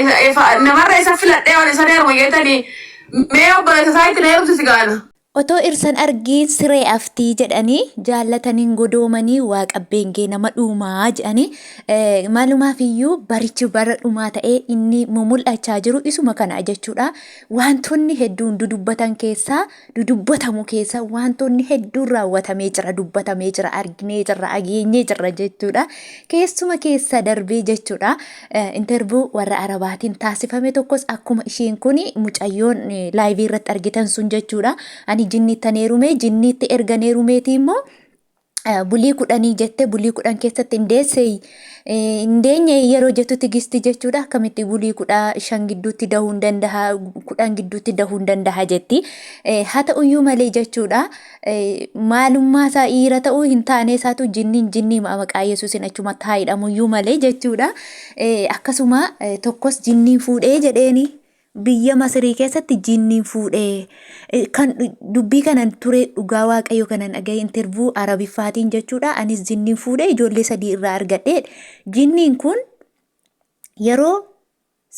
Isa- ifa- Namarra isa filadhee ol isa deeruma jettanii mee obboleessa isaa itti na heerumsi si gaana. Otoo irsan argiin siree aftii jedhanii jaallataniin godoomanii waa qabbeengee nama dhuumaa jedhanii eh, maalumaaf iyyuu barichi bara dhumaa ta'ee inni mumul'achaa jiru isuma kana jechuudha. Wantoonni hedduun dudubbatan keessaa dudubbatamu keessa wantoonni hedduun raawwatamee jira dubbatamee jira arginee jirra ageenyee jirra jechuudha keessuma keessa darbee jechuudha intervuu warra arabaatiin taasifame tokkos akkuma isheen kun mucayyoon laayivii irratti argitan sun jechuudha ani jinniittaneerumee jinniitti erganeerumeetii immoo bulii kudhanii jette bulii kudhan keessatti hin deessee hin deenye yeroo jettu tigisti jechuudha akkamitti bulii kudha shan gidduutti dahuu hin dandaha kudhan gidduutti dahuu hin dandaha jetti haa ta'uyyuu malee jechuudha maalummaa isaa dhiira ta'uu hin taane isaatu jinniin jinnii maqaa yesuusin achumatti haa hidhamuyyuu malee jechuudha akkasuma tokkos jinniin fuudhee jedheeni Biyya Masirii keessatti jinniin fuudhee kan dubbii kanan ture dhugaa waaqayyo kanan dhagaye intervuu arabiffaatiin jechuudha anis jinniin fuudhee ijoollee sadii irraa argadhe jinniin kun yeroo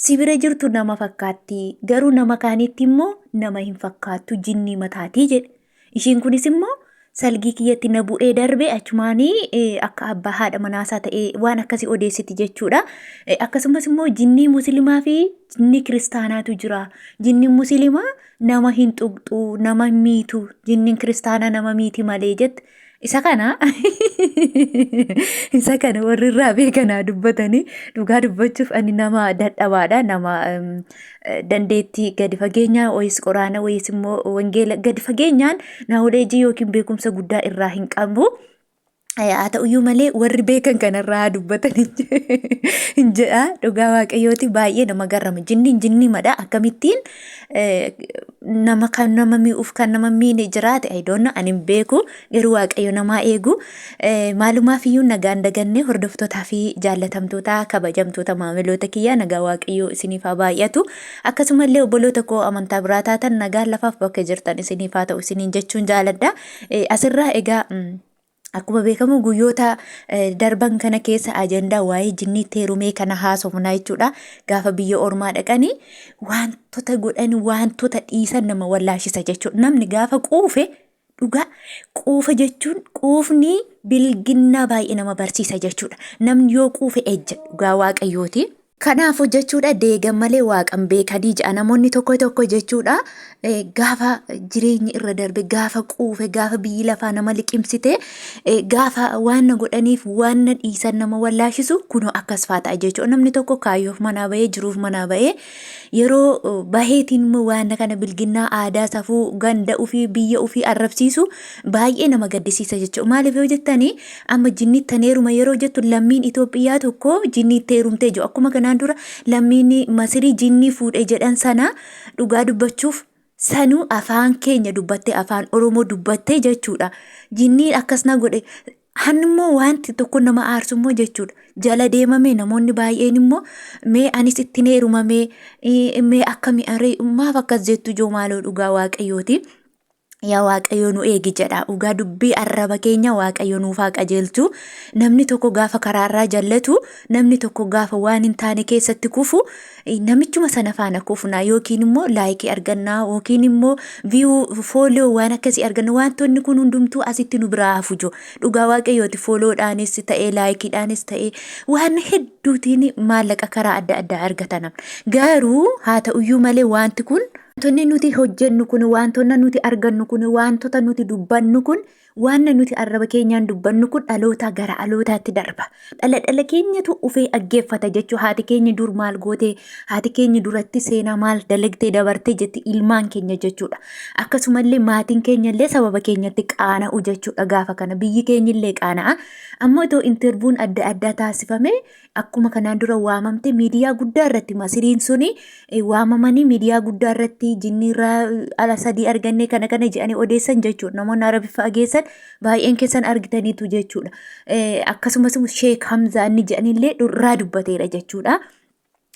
si bira jirtu nama fakkaatti garuu nama kaanitti immoo nama hin fakkaattu jinnii mataatii jedhe Ishiin kunis immoo salgii kiyyatti na bu'ee darbe achumaanii eh, akka abbaa haadha manaasaa ta'ee waan akkasii odeessiti jechuudha. Eh, Akkasumas immoo jinnii musliimaa fi jinnii kiristaanaatu jira. Jinniin musliimaa nama hin tuqxu, nama hin miitu, jinniin kiristaanaa nama miiti malee jette. Isa kana isa kana warri irraa beekanaa dubbatanii dhugaa dubbachuuf ani nama dadhabaadha nama em, eh, dandeettii gadi fageenyaa wayis qoraana wayis immoo wangeela gadi fageenyaan naawuleejii yookiin beekumsa guddaa irraa hin qabu. Eh, Haa ta'uyyuu malee warri beekan kanarraa haa dubbatan hin jedha dhugaa waaqayyooti baay'ee nama garrama jinniin jinnii madha akkamittiin eh, nama kan nama mi'uuf kan nama miine jiraate ayidoonna ani hin beeku garuu waaqayyo namaa eegu Eh, maalumaaf iyyuu nagaan dagannee hordoftootaa fi jaallatamtootaa kabajamtoota maamiloota kiyyaa nagaa waaqayyoo isiniif haa baay'atu akkasumallee obboloota koo amantaa biraa taatan nagaan lafaaf bakka jirtan isiniif haa ta'u isiniin jechuun jaaladha Eh, asirraa egaa mm, Akkuma beekamu guyyoota darban kana keessa ajandaa waa'ee jinniitti heerumee kana haasofnaa jechuudha. Gaafa biyya ormaa dhaqanii wantoota godhan wantoota dhiisan nama wallaashisa jechuudha. Namni gaafa quufe dhugaa quufa jechuun quufni bilginnaa baay'ee nama barsiisa jechuudha. Namni yoo quufe ejja dhugaa waaqayyooti. Kanaafu jechuudha deegan malee waaqan beekanii ja'a namoonni tokko tokko jechuudha gaafa jireenyi irra darbe gaafa quufe gaafa biyyi lafaa nama liqimsite gaafa waan na godhaniif waan na dhiisan nama wallaashisu kunoo akkas faa ta'a jechuudha namni tokko kaayyoof manaa bahee jiruuf manaa bahee yeroo baheetiin immoo waan kana bilginnaa aadaa safuu ganda ofii biyya ofii arrabsiisu baay'ee nama gaddisiisa jechuudha maaliif yoo jettanii Amma jinni ittan heeruma yeroo jettu lammiin Itoophiyaa tokko jinni itti heerumtee jiru. Akkuma kanaan dura lammiin Masirii jinnii fuudhe jedhan sana dhugaa dubbachuuf sanuu afaan keenya dubbattee afaan Oromoo dubbattee jechuudha. Jinnii akkas na godhe hanni immoo wanti tokko nama aarsu immoo jechuudha. Jala deemamee namoonni baay'een immoo mee anis ittiin heerumamee eh, mee akkami aree maaf akkas jettu ijoo maaloo dhugaa waaqayyooti. yaa waaqayyo nu eegi jedha dhugaa dubbii arraba keenya waaqayyo nuuf haa qajeelchu namni tokko gaafa karaarraa jallatu namni tokko gaafa waan hin taane keessatti kufu eh, namichuma sana faana kufna yookiin immoo laayikii arganna yookiin immoo viyuu fooloo waan akkasii arganna wantoonni kun hundumtuu asitti nu biraa hafu jo dhugaa waaqayyooti fooloodhaanis ta'ee laayikiidhaanis ta'ee waan hedduutiin maallaqa karaa adda addaa argatana garuu haa ta'uyyuu malee wanti kun Wantoonni nuti hojjennu kun, wantoonni nuti argannu kun, wantoota nuti dubbannu kun, waan nuti arraba keenyaan dubbannu kun dhalootaa gara dhalootaatti darba. Dhala dhala keenyatu ufee dhaggeeffata jechuu haati keenya dur maal goote, haati keenya duratti seenaa maal dalagdee dabarte jetti ilmaan keenya jechuudha. Akkasumallee maatiin keenyallee sababa keenyatti qaana'u jechuudha gaafa kana. Biyyi keenyillee qaana'a. Ammoo itoo intervuun adda addaa taasifame akkuma kanaan dura waamamte miidiyaa guddaa irratti masiriin suni waamamanii miidiyaa guddaa irratti jinniirraa ala sadii argannee kana kana jedhanii odeessan jechuudha namoonni arabi fageessan baay'een keessan argitaniitu jechuudha akkasumas sheek hamzaa inni jedhanillee dhurraa dubbateera jechuudha.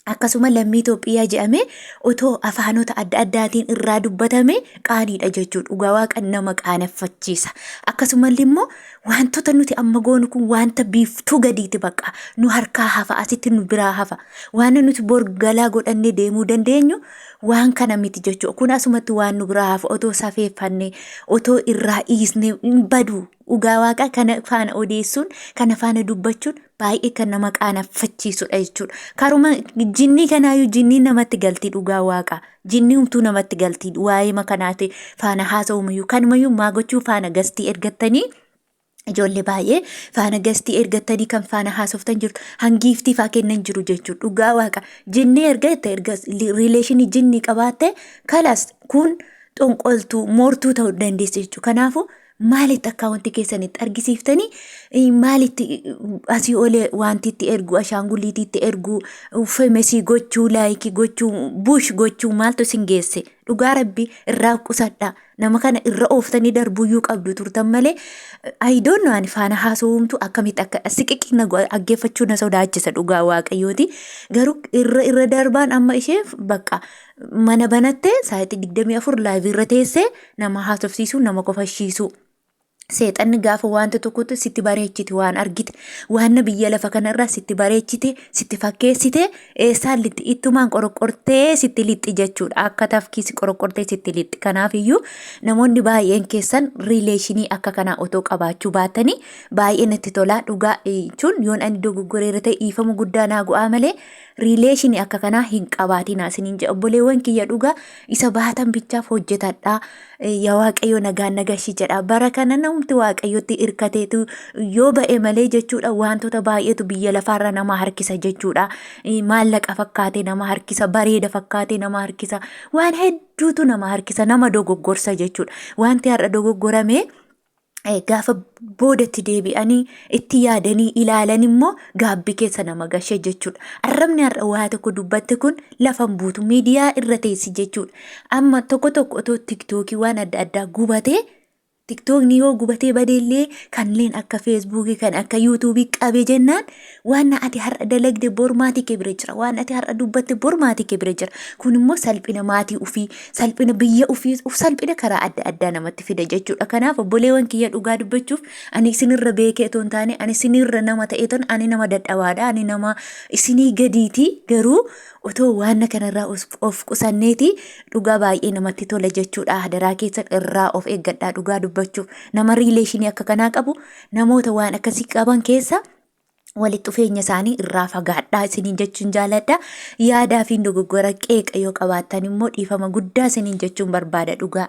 Akkasuma lammii Itoophiyaa jedhamee otoo afaanota adda addaatiin irraa dubbatame qaaniidha jechuudha. Dhugaa waaqa nama qaaneffachiisa. Akkasumallee immoo Waantota nuti amma goonu kun waanta biiftuu gadiiti baqa. Nu harkaa hafa, asitti nu biraa hafa. Waan nuti bor galaa godhannee deemuu dandeenyu waan kana miti jechuudha. Kun asumatti waan nu biraa hafa otoo safeeffannee, otoo irraa dhiisnee hin badu. Dhugaa waaqaa kana faana odeessuun, kana faana dubbachuun baay'ee kan nama qaanaffachiisudha jechuudha. Karuma jinnii kanaayyuu jinniin namatti galti dhugaa waaqaa. Jinni humtuu namatti galtiin waa'eema kanaati faana haasa'umayyuu kanumayyuu maa gochuu faana gastii ergattanii ijoollee baay'ee faana gastii ergattanii kan faana haasoftan jirtu hangiiftii faa kennan jiru jechuudha dhugaa waaqa jinni erga itti erga riileeshinii jinni qabaatte kalas kun xonqoltuu moortuu ta'uu dandeessi jechuudha kanaafuu maalitti akkaawwantii keessan itti argisiiftanii eh, maalitti eh, asii olee wanti itti ergu ashaangulliitii itti ergu femesii gochuu laayikii gochuu bush gochuu maaltu isin geesse dhugaa rabbi irraa qusadha nama kana irra ooftanii darbuyyuu qabdu turtan malee ayidoon ani faana haasawumtu akkamitti akka siqiqi na go- aggeeffachuu na sodaachisa dhugaa waaqayyooti garuu irra irra darbaan amma ishee bakka mana banattee sa'aatii 24 laayivii irra teessee Nama haasofsiisuu, nama kofalchiisuu. Seexanni gaafa wanta tokkotti sitti bareechite waan argite waanna biyya lafa kanarraa sitti bareechite sitti fakkeessite eessaan lixxi ittumaan qoroqqortee sitti lixxi jechuudha akka tafkiisi qoroqqortee sitti lixxi kanaafiyyuu namoonni baay'een keessan riileeshinii akka kanaa otoo qabaachuu baatanii baay'ee natti tolaa dhugaa jechuun yoon ani dogoggoreera ta'e dhiifama guddaa naa go'aa malee riileeshinii akka kanaa hin qabaatinaa isiniin jedha obboleewwan kiyya dhugaa isa baatan bichaaf hojjetadhaa Eh, yaa waaqayyo nagaan nagashi jedha bara kana namti waaqayyotti irkateetu yoo ba'e malee jechuudha wantoota baay'eetu biyya lafaarra nama harkisa jechuudha Eh, maallaqa fakkaatee nama harkisa bareeda fakkaatee nama harkisa waan hedduutu nama harkisa nama dogoggorsa jechuudha wanti har'a dogoggorame eh, gaafa boodatti deebi'anii itti yaadanii ilaalan immoo gaabbii keessa nama gashee jechuudha. Arrabni har'a waa tokko dubbatte kun lafan buutu miidiyaa irra teessi jechuudha. Amma tokko tokko otoo tiktookii waan adda addaa gubatee tiktookni yoo gubatee badeellee kanneen akka feesbuukii kan akka yuutuubii qabe jennaan Waan ati har'a dalagde bor maatii kee bira jira. Waan ati har'a dubbatte bor maatii kee bira jira. Kun immoo salphina maatii ofii, salphina biyya ofii, of salphina karaa adda addaa namatti fida jechuudha. Kanaaf obboleewwan kiyya dhugaa dubbachuuf ani isinirra beekee otoo hin taane ani isinirra nama ta'ee ton ani nama dadhabaadha. Ani nama isinii gadiiti garuu otoo waan kanarraa os- of qusanneeti dhugaa baay'ee namatti tola jechuudha. Hadaraa keessan irraa of eeggadhaa dhugaa dubbachuuf. Nama riileeshinii akka kanaa qabu namoota waan akkasii qaban keessa walitti dhufeenya isaanii irraa fagaadhaa isiniin jechuun jaaladha. Yaadaa fi dogoggora qeeqa yoo qabaattan immoo dhiifama guddaa isiniin jechuun barbaada dhugaa.